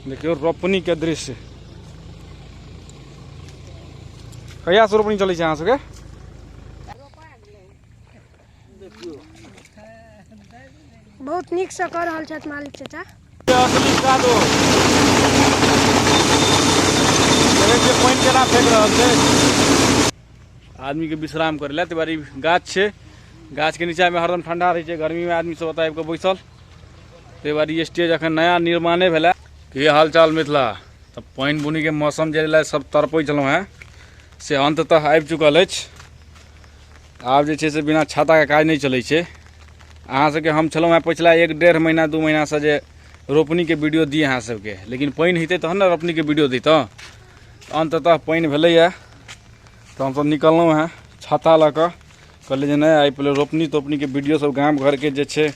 देखियौ रोपनीके दृश्य कहियासँ रोपनी चलै छै अहाँ सबके बहुत नीकसँ कऽ रहल छथि मालिक चाचा पानि केना फेंक रहल छै आदमीके विश्राम करै लए ताहि गाछ छै गाछके नीचाँमे हरदम ठंडा रहै छै गर्मीमे आदमी सब ओतऽ आबि कऽ बैसल ताहि दुआरे ई स्टेज एखन नया निर्माणे भेलै की हालचाल मिथिला तऽ पानि बुनीके मौसम जे लए सब तड़पै छलहुँ हेँ से अन्ततः आबि चुकल अछि आब जे छै से बिना छाताके काज नहि चलै छै अहाँसभके हम छलहुँ हेँ पछिला एक डेढ़ महीना दू महीनासँ जे रोपनीके वीडियो दी अहाँसभके लेकिन पानि हेतै तहन ने रोपनीके वीडियो दैतहुँ अन्ततः पानि भेलैए तऽ हमसभ निकललहुँ हेँ छाता लऽ कऽ कहलिए जे नहि आइ पहिले रोपनी तोपनीके वीडियोसब गाम घरके जे छै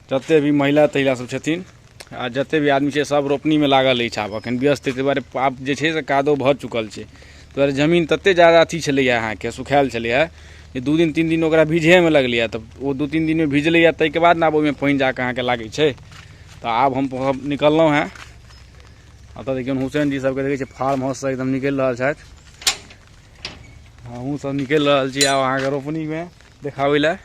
जते भी महिला तहिला सब छथिन आ जते भी आदमी छै सब रोपनीमे लागल अछि आब एखन व्यस्त ताहि दुआरे आब जे छै से कादो भऽ चुकल छै ताहि दुआरे जमीन तते जादा अथी छलैए अहाँके सुखाएल छलैए जे दू दिन तीन दिन ओकरा भिजहेमे लगलैए तऽ ओ दू तीन दिनमे भिजलैए ताहिके बाद ने आब ओहिमे पानि जाकऽ अहाँके लागै छै तऽ आब हम निकललहुँ हेँ एतऽ देखियौ हुसैन जी सबके देखै छियै फार्म हाउससँ एकदम निकलि रहल छथि हमहूँ सब निकलि रहल छी आब अहाँके रोपनीमे देखाबै लए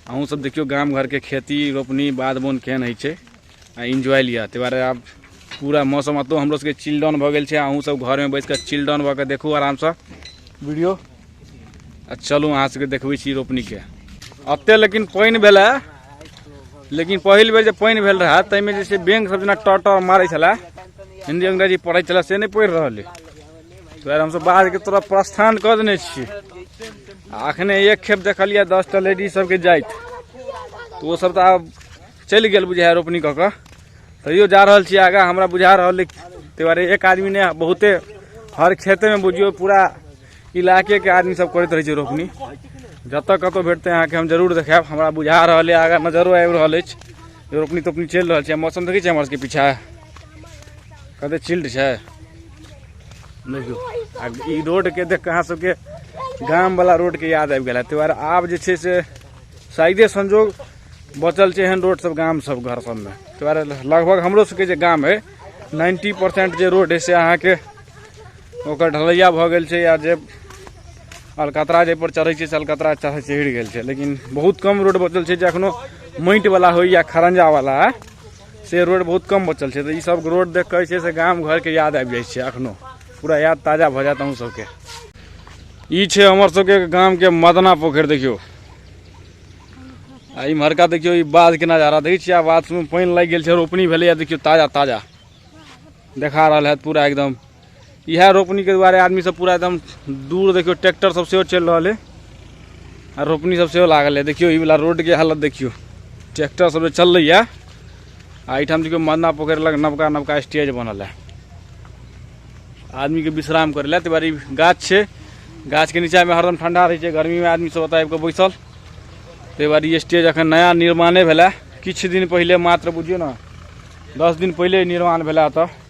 अहूँ सब देखियौ गाम घरके खेती रोपनी बाध बोन केहन होइ छै आ इन्जॉय लिअ ताहि दुआरे आब पूरा मौसम एतौ हमरो सबके चिल्डन भऽ गेल छै अहूँ सब घरमे बैस कऽ चिल्डन भऽ कऽ देखू आरामसँ वीडियो आ चलू अहाँ सबके देखबै छी रोपनीके एते लेकिन पानि भेलै लेकिन पहिल बेर जे पानि भेल रहए ताहिमे जे छै बैंक सब जेना टर टर मारै छलै हिन्दी अंग्रेजी पढ़ै छलै से नहि पढ़ि रहल अइ फेर हमसब बाहर के तरफ प्रस्थान कर देने छी अखने एक खेप देखलिए दस टा लेडीज सबके जाइत तो वो सब तो आब चल गए बुझाए रोपनी कऽ कऽ तैयो जा रहल छी आगा हमरा बुझा रहल ताहि दुआरे एक आदमी ने बहुते हर खेते में बुझियो पूरा इलाके के आदमी सब करते रहे रोपनी जत कत भेटते अहाँ के हम जरूर देखाब हमरा बुझा रहा है आगा नजरो आबि रहल अछि रोपनी तोपनी चलि रहल छै मौसम देखै छियै हमर सबके पीछा कते चिल्ड छै देखियौ आ ई रोडके देख कऽ अहाँ सबके गामवला रोडके याद आबि गेल ताहि दुआरे आब जे छै से शायदे संजोग बचल छै एहन रोड सब गाम सब घर सबमे ताहि दुआरे लगभग हमरो सबके जे गाम अइ नाइन्टी परसेंट जे रोड अइ से अहाँके ओकर ढलैया भऽ गेल छै या जे अलकतरा जाहिपर चढ़ै छै से अलकतरा चढ़ चढ़ि गेल छै लेकिन बहुत कम रोड बचल छै जे एखनो माटिवला होय या खरंजावला से रोड बहुत कम बचल छै तऽ ई सब रोड देख कऽ छै से गाम घरके याद आबि जाइ छै एखनो पूरा याद ताजा भऽ जायत अहूँ सबके ई छै हमर सबके गामके मदना पोखरि देखियौ आ इम्हरका देखियौ ई बाध के नजारा देखै छियै आ बाध सबमे पानि लागि गेल छै रोपनी भेलैए देखियौ ताजा ताजा देखा रहल हैत पूरा एकदम इएह रोपनीके दुआरे आदमीसभ पूरा एकदम दूर देखियौ ट्रैक्टरसभ सेहो चलि रहल अइ आ रोपनीसभ सेहो लागल अइ देखियौ ई वला रोडके हालत देखियौ ट्रैक्टरसभ जे चललैए आ एहिठाम देखियौ मन्ना पोखरि लग नवका नवका स्टेज बनल है आदमीके विश्राम करै लए ताहि दुआरे ई गाछ छै गाछके नीचाँमे हरदम ठण्डा रहै छै गर्मीमे आदमीसभ ओतय आबि कऽ बैसल ताहि दुआरे ई स्टेज एखन नया निर्माणे भेलै किछु दिन पहिले मात्र बुझियौ ने दस दिन पहिले निर्माण भेलै एतय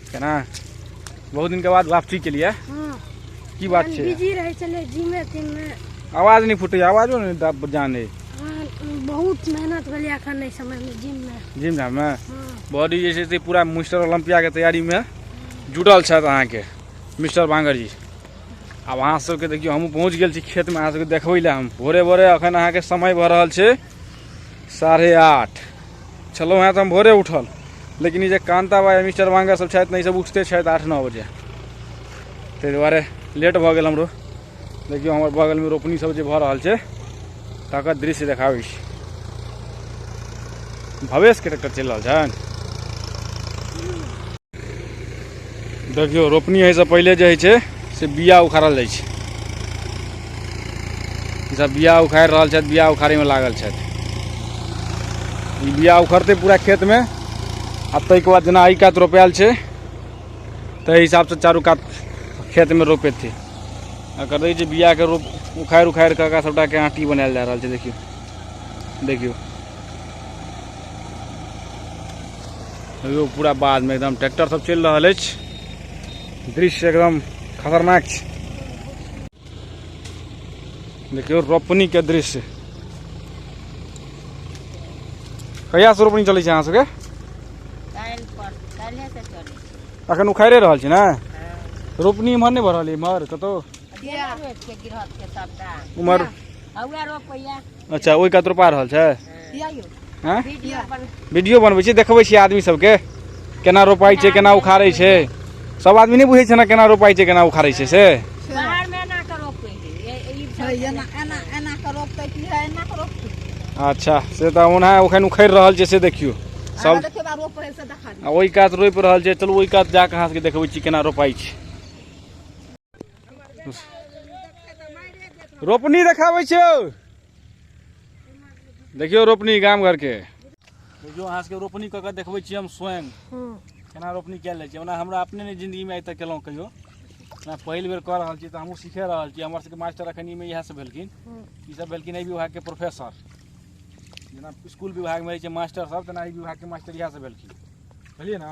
केना बहुत दिन के बाद वापसी के लिए हाँ की बात हम छै बिजी रहे चले जिमे तिमे आवाज नहीं फूटे आवाजो नहीं दा- जाने हाँ, बहुत मेहनत भेलै अखन नहि समय में जिम में जिम जाम में हाँ बॉडी जे छै से पूरा मिस्टर ओलम्पिया के तैयारी में जुटल छथि अहाँके मिस्टर बांगर जी आब अहाँ सबके देखियौ हमहूँ पहुँच गेल छी खेतमे अहाँ सबके देखबै लए हम भोरे भोरे अखन अहाँके समय भऽ रहल छै साढ़े आठ छलहुँ हेँ तऽ हम भोरे उठल लेकिन ई जे कान्ता बा मिस्टर वांगा सब छथि ने ईसब उठते छथि आठ नओ बजे ताहि दुआरे लेट भऽ गेल हमरो देखियौ हमर बगलमे रोपनी सब जे भऽ रहल छै तकर दृश्य देखाबै छी भवेशके ट्रैक्टर चलि रहल छनि देखियौ रोपनी होइसँ पहिले जे होइ छै से बिया उखाड़ल जाइ छै ईसभ बिया उखाड़ि रहल छथि बिया उखाड़ैमे लागल छथि ई बिया उखड़तै पूरा खेतमे आ ताहिके बाद जेना एहि कात रोपायल छै ताहि हिसाबसँ चारू कात खेतमे रोपेतै आ करै छै बियाके रोप उखाड़ि उखाड़ि कऽ सभटाके आँटी बनायल जा रहल छै देखियौ देखियौ लोग पूरा बाद में एकदम ट्रैक्टर सब चल रहा है दृश्य एकदम खतरनाक देखियो रोपनी के दृश्य कहिया से रोपनी चल अहाँ सबके अखन उखाड़े रहा छी हाँ। रोपनी इम्हर नहीं बढ़ल इम्हर कतौ उम्हर अच्छा ओहि कात रोपा रहल छै हैं वीडियो बनबै छी देखबै छी आदमी सबके केना रोपाइ छै केना उखाड़ै छै सब आदमी नहि बुझै छै ने केना रोपाइ छै केना उखाड़ै छै से अच्छा से तऽ ओना ओखन उखड़ि रहल छै से देखियौ सब आ ओहि कात रोपि रहल छै चलू ओहि कात जाकऽ अहाँ सबके देखबै छी केना रोपाइ छै रोपनी देखाबै छियौ देखियौ रोपनी गाम घरके देखियौ अहाँ सबके रोपनी कऽ कऽ देखबै छी हम स्वयं केना रोपनी कयल जाइ छै ओना हमरा अपने नहि जिन्दगीमे आइ तक केलहुँ कहियो ओना पहिल बेर कऽ रहल छी तऽ हमहूँ सीखे रहल छी हमर सबके मास्टर अखनीमे इएह सब भेलखिन ई सब भेलखिन एहि विभागके प्रोफेसर जेना स्कूल विभागमे रहै छै मास्टर सब तेना एहि विभागके मास्टर इएह सब भेलखिन बुझलियै ने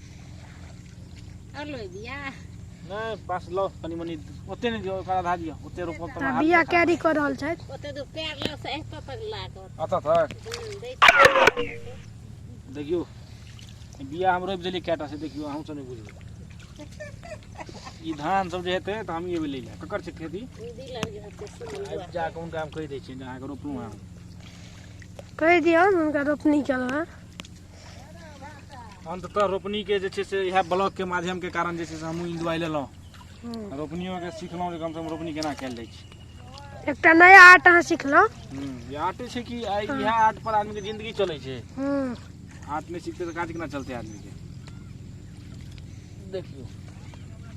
नहि पास लो कनी मनी ओते नहि दियो ओकरा आधा दियो ओते रोपब त हाथ बिया कैरी कर रहल छै ओते दो पैर लो से एक पर लागो अच्छा था देखियो बिया हम रोप देली कैटा से देखियो हम सब नहीं बुझे ई धान सब जे हेतै तऽ हम ई ले जाय ककर छै खेती आबि जा कऽ हुनका हम कहि दै छियनि जे अहाँके रोपलहुँ हेँ कहि दियौ हुनका रोपनी केलहुँ हेँ अंततः रोपनी के जे छै से इएह ब्लॉक के माध्यम के कारण जे छै से हमहूँ इंदुआइ लेलहुँ हम्म। रोपनियो के सिखलहुँ जे कम से कम रोपनी केना कयल जाइ छै एकटा नया आर्ट अहाँ सिखलहुँ हम्म, ई आर्ट छै कि आइ इएह आर्ट पर आदमी के जिंदगी चलै छै हम्म। आर्ट नहि सीखते तऽ काज केना चलतै आदमी के देखियो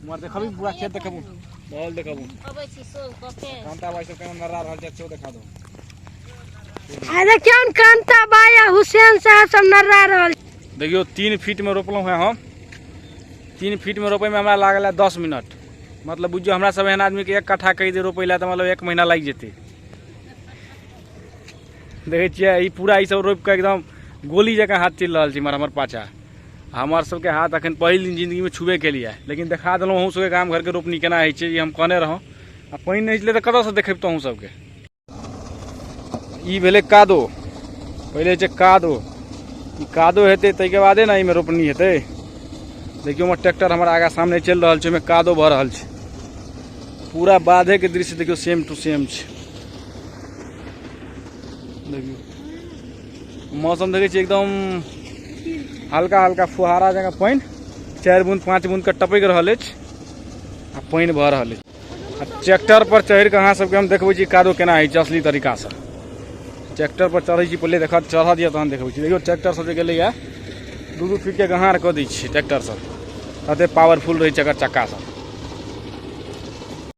हमर देखबी पूरा खेत देखबू माहौल देखबू अबै छी सोल कऽ के कांता भाई सब केना नरा रहल छै सेहो देखा दो आ देखियौ ने कांता बाई आ हुसैन साहब सब नर्रा रहल देखियो तीन फीट में रोपलहुँ हैं हम तीन फीट में रोपे में हमरा लागल है दस मिनट मतलब बुझियो हमरा सब एहन आदमी के एक कट्ठा कहि दे रोपे ला तऽ मतलब एक महीना लागि जेतै देखै छियै ई पूरा ई सब रोपि कऽ एकदम गोली जकाँ हाथ चलि रहल छै इमहर हमर पाछा हमर सबके हाथ अखन पहिल दिन जिंदगी में छुबे के लिए लेकिन देखा देलहुँ अहूँ सबके गाम घर के रोपनी केना होइ छै ई हम कहने रहौं आ पानि नहि छलै तऽ कतऽसँ देखेबतहुँ अहूँ सबके ई भेलै कादो पहिले छै कादो ई कादो हेतै ताहिके बादे ने एहिमे रोपनी हेतै देखियौ हमर ट्रैक्टर हमर आगा सामने चलि रहल छै ओहिमे कादो भऽ रहल छै पूरा बाधेके दृश्य देखियौ सेम टू सेम छै देखियौ मौसम देखै छी एकदम हल्का हल्का फुहारा जगह पानि चारि बूंद पाँच बूंद के टपकि रहल अछि आ पानि भऽ रहल अछि आ ट्रैक्टर पर चढ़ि कऽ अहाँ सबके हम देखबै छी कादो केना होइ छै असली तरीकासँ ट्रैक्टर पर चढ़ै छी पहिले देखत चढ़ऽ दिअ तहन देखबै छी देखियौ ट्रैक्टर सब जे गेलैए दू दू फीटके गहार कऽ दै छियै ट्रैक्टर सब तते पावरफुल रहै छै एकर चक्का सब